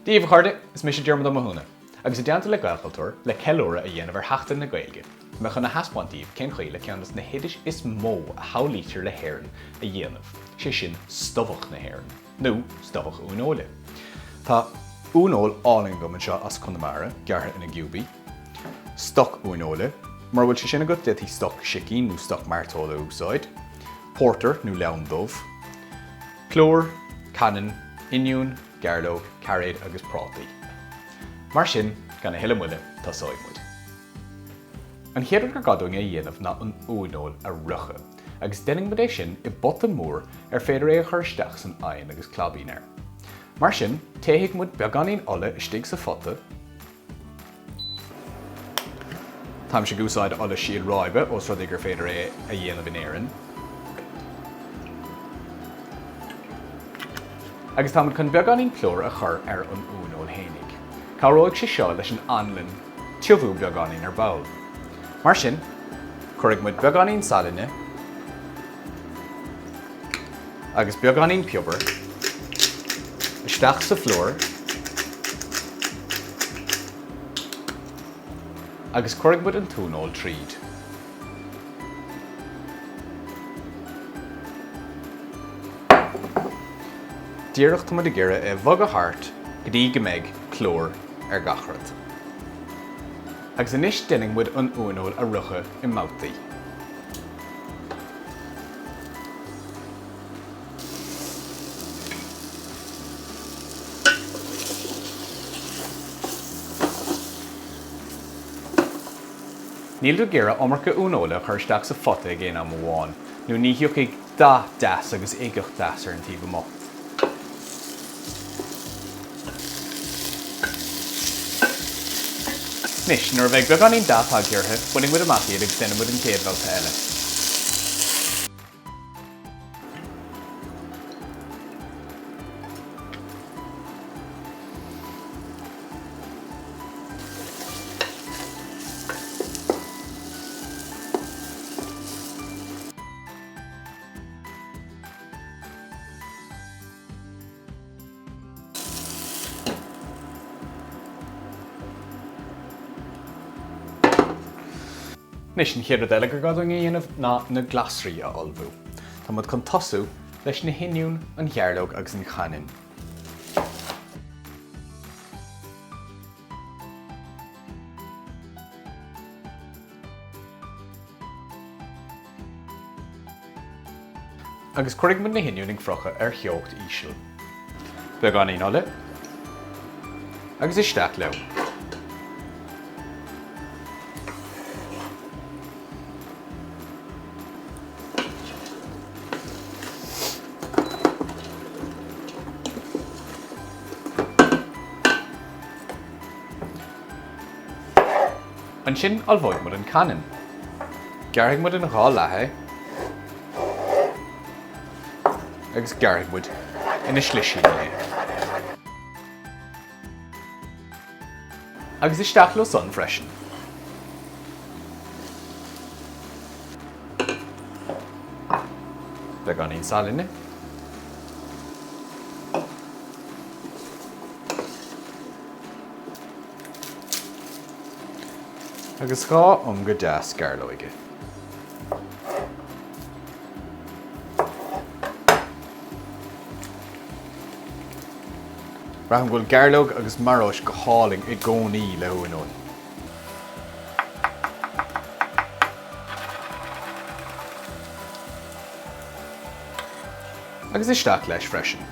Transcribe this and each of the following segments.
Daoibh a chairde, is mise Diarmuid Ó Mathúna, agus i dteannta le Gaelchultúr, le ceiliúradh a dhéanamh ar Sheachtain na Gaeilge, beidh mé chun a thaispeáint daoibh cén chaoi le ceann dos na hoidis is mó a shamhlaítear le hÉirinn a dhéanamh, sé sin stobhach na hÉireann, nó stobhach uaineoile. Tá uaineoil álainn agam anseo as Conamara, gearrtha ina chiúbanna. Stoc uaineoile. Mura bhfuil sé sin agat d'fhéadfaí stoc sicín nó stoc mairteola a úsáid. Pórtar nó leann dubh. Plúr, cainneann, oinniún, gairleog, cairéid agus prátaí. Mar sin, gan a thuilleadh moille, tosóidh muid. An chéad rud gur gá dúinn a dhéanamh ná an uaineoil a fhriochadh agus déanfaidh muid é sin i bpota mór ar féidir é a chur isteach san oigheann agus claibín air. Mar sin, téifidh muid beagáinín ola istigh sa phota, Táimse ag úsáid ola síl ráibe ós rud é gur féidir é a dhéanamh in Éirinn. Agus táimid chun beagáinín plúir a chur ar an uaineoil fhéinig. Cabhróidh sé seo leis an anlann tiubhú beagáinín ar ball. Mar sin, cuirfidh muid beagáinín salainn. agus beagáinín piobair, isteach sa phlúr agus cuirfidh muid an t-uaineoil tríd. Díreach tá muid ag iarraidh é a bhogadh thart go dtí go mbeidh plúr ar gach rud. Agus anois déanfaidh muid an uaineoil a fhriochadh i mbabhtaí. Níl tú ag iarraidh iomarca uaineoile a chur isteach sa phota ag aon am amháin, nó ní thiocfaidh dath deas agus uigeacht dheas ar an taobh amuigh. Anois, nuair a bheidh beagáinín dath tagtha orthu, bainfidh muid amach iad agus déanfaidh muid an chéad bhabhta eile. Anois an chéad rud eile gur gá dúinn a dhéanamh ná na glasraí a ullmhú. Táimid chun tosú leis na hoinniúin, an ghairleog agus an chainneann. Agus cuirfidh muid na hoinniúin ag friochadh ar theocht íseal. Beagáinín ola agus isteach leo. Ansin ullmhóidh muid an cainneann. Gearrfaidh muid in dhá leath é agus gearrfaidh muid ina slisíní é. Agus isteach leo san freisin. Beagáinín salainne. Agus dhá ionga dheas gairleoige. Braithim go bhfuil gairleog agus maróis go hálainn i gcónaí le uaineoil. Agus isteach leis freisin.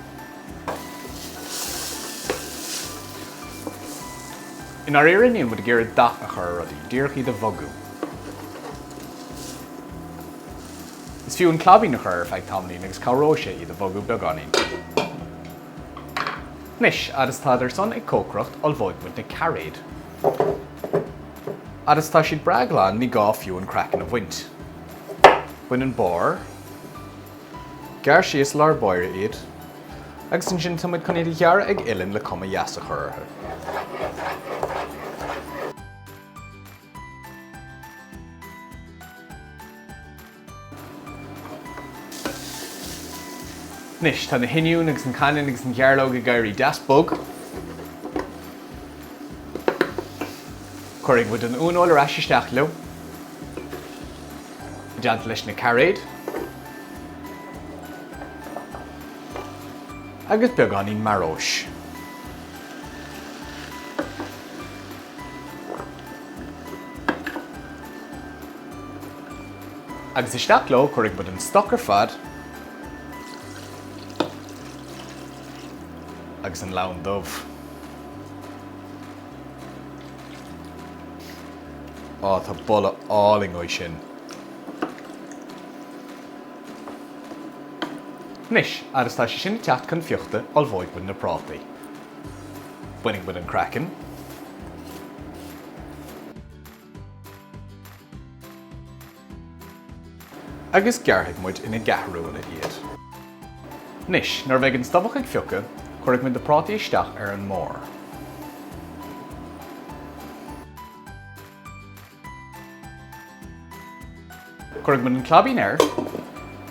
I ndáiríre níl muid ag iarraidh dath a chur ar rudaí, díreach iad a bhogadh. Is fiú an claibín a chur air ar feadh tamaillín agus cabhróidh sé iad a bhogadh beagáinín. Anois fhad is atá siad san ag cócaireacht ullmhóidh muid na cairéid. Fhad is tá siad breá glan ní gá fiú an craiceann a bhaint. Bain an barr. Gearr síos lár báire iad agus ansin tá muid chun iad a ghearradh ag uillinn le cuma dheas a chur orthu. Anois tá na hoinniúin agus an cainneann agus an ghairleog ag éirí deas bog. Cuirfidh muid an uaineoil ar ais isteach leo. I dteannta leis na cairéid, agus beagáinín maróis. Agus isteach leo, cuirfidh muid an stoc ar fad, agus an leann dubh. Á, tá boladh álainn uaidh sin. Anois, fhad is atá sé sin ag teacht chun fiuchta, ullmhóidh muid na prátaí. Bainfidh muid an craiceann. agus gearrfaidh muid ina gceathrúna iad. Anois, nuair a bheidh an stobhach ag fiuchadh, cuirfidh muid na prátaí isteach ar an mbarr. Cuirfidh muid an claibín air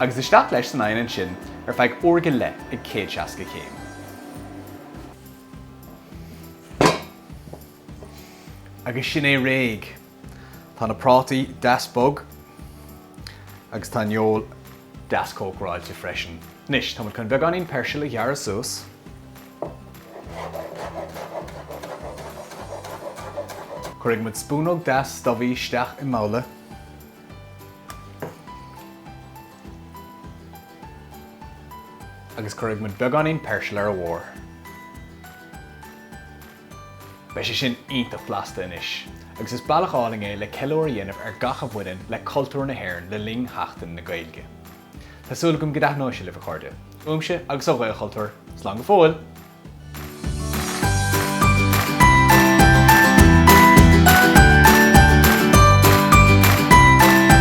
agus isteach leis san oigheann ansin ar feadh uair go leith ag céad seasca céim. Agus sin é réidh! Tá na prátaí deas bog agus tá an fheoil deas cócaráilte freisin. Anois, tá muid chun beagáinín peirsil a ghearradh suas. Cuirfidh muid spúnóg deas stobhaigh isteach i mbabhla. Agus cuirfidh muid beagáinín peirsil ar a bharr. Beidh sé sin iontach blasta anois agus is bealach álainn é le ceiliúr a dhéanamh ar gach a bhaineann le cultúr na hÉireann le linn Sheachtain na Gaeilge. Tá súil agam go dtaitneoidh sé libh, a chairde. Uaimse agus ó Ghaelchultúr, slán go fóill!